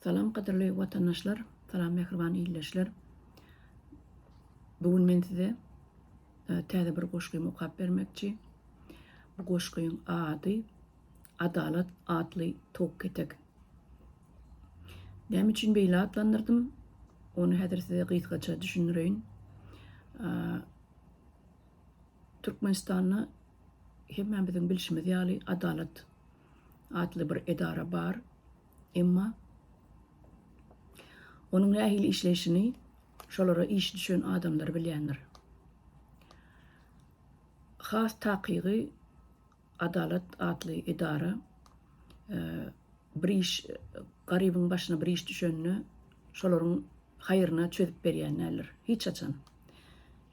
Salam gadyrly watandaşlar salam mähriban illeşler bu gün men size täze bir goşgymy okap bermekçi bu goşgyň ady adalat atly tok ketek näme üçin beýle atlandyrdym ony häzir size gysgaça düşündireýin Türkmenistanda hemmämiziň bilşimiz ýaly adalat atly bir edara bar. Emma onuň nähili işleýşini şolara işi düşen adamlar bilýändir. Has takygy Adalat atly edara e, bir iş garybyň başyna bir iş düşende şolaryň haýryna çözüp berýän näler. Hiç haçan.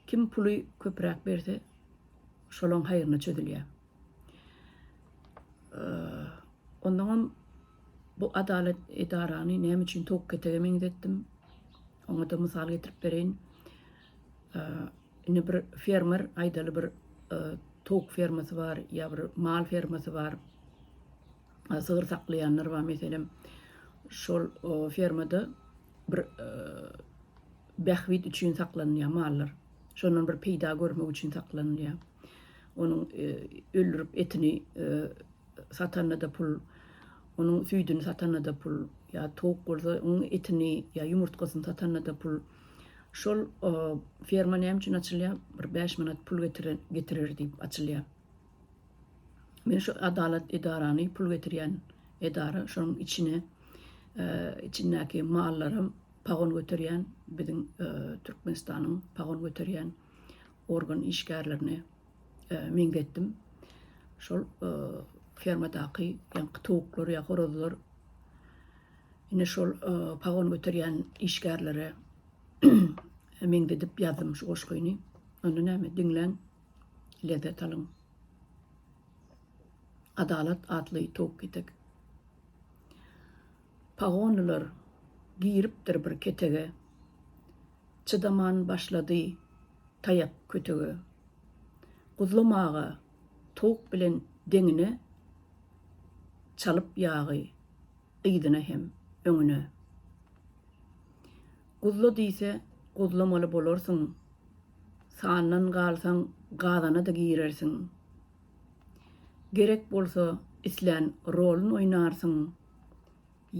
Kim puly köpräk berse, şolaň haýryna çözülýär. Onnoňam bu adalat edarany näme üçin towuk ketege meňzetdim? Oňa-da mysal getirip bereýin. Indi bir fermer, aýdaly bir towuk fermasy bar ýa bir mal fermasy bar. Sygyr saklaýanlar bar meselem. Şol fermada bir bähbit üçin saklanylýar mallar. Şondan bir peýda görmek üçin saklanylýar. Onuň öldürip etini satanda-da pul, onuň süýdüni satanda-da pul, ýa towuk bolsa onuň etini ýa ýumurtgasyny satanda-da pul. Şol ferma näme üçin açylýar? Bir bäş manat pul getiren getirer diýip açylýar. Men şu adalat edarany pul getirýän edara, şonuň içine içindäki mallaram pagon göterýän, biziň Türkmenistanyň pagon göterýän organ işgärlerini meňzetdim. Şol fermadaky ýaňky towuklar ýa horazlar ine şol pagon göterýän işgärlere meňzedip ýazdym şu goşgyny. Onda näme diňläň, lezzet alyň. Adalat atly towuk ketek. Pagonlylar giripdir bir ketege, Çydaman başlady taýak kötege. Guzlam aga towuk bilen deňine, Çalyp ýagy yzyna hem öňüne. Guzla diýse guzlamaly bolarsyň, Sandan galsaň gazana-da girersiň. Gerek bolsa islän rolun oýnarsyň,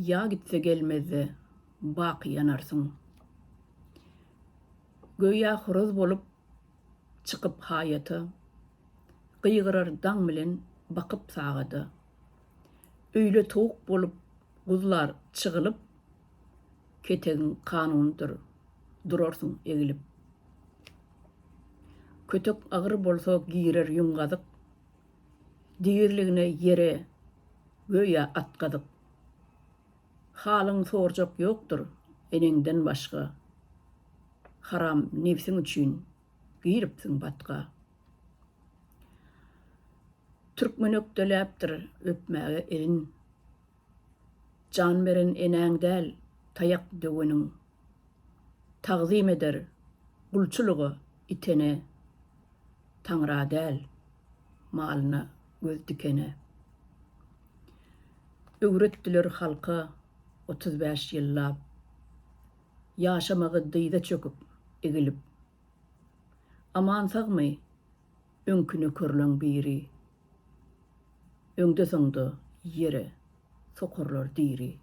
Ýa gitse gelmezde baky ýanarsyň. Göýä horaz bolup çykyp haýata, Gygyrar daň bilen bakyp sagada. Öýle towuk bolup guzlar çygylyp, Ketegiň kanunydyr, durarsyň egilip. Kötek agyr bolsa girer ýüň gazyk, Degirligine ýere göýä at gazyk. Halyňy sorjak ýokdur eneňden başga, Haram nebsiň üçin giripsiň batga. Türkmen ökdeläpdir öpmäge elin, Jan beren enäň däl, taýak döweniň. Tagzym eder, gulçulyga itene. Taňra däl, malyna göz dikene. Öwretdiler halka otuz bäş ýyllap. Ýaşamagy dyza çöküp, egilip. Aman-sagmy? Öňki nökerleň biri. Öňde-soňda ýere sokarlar diri.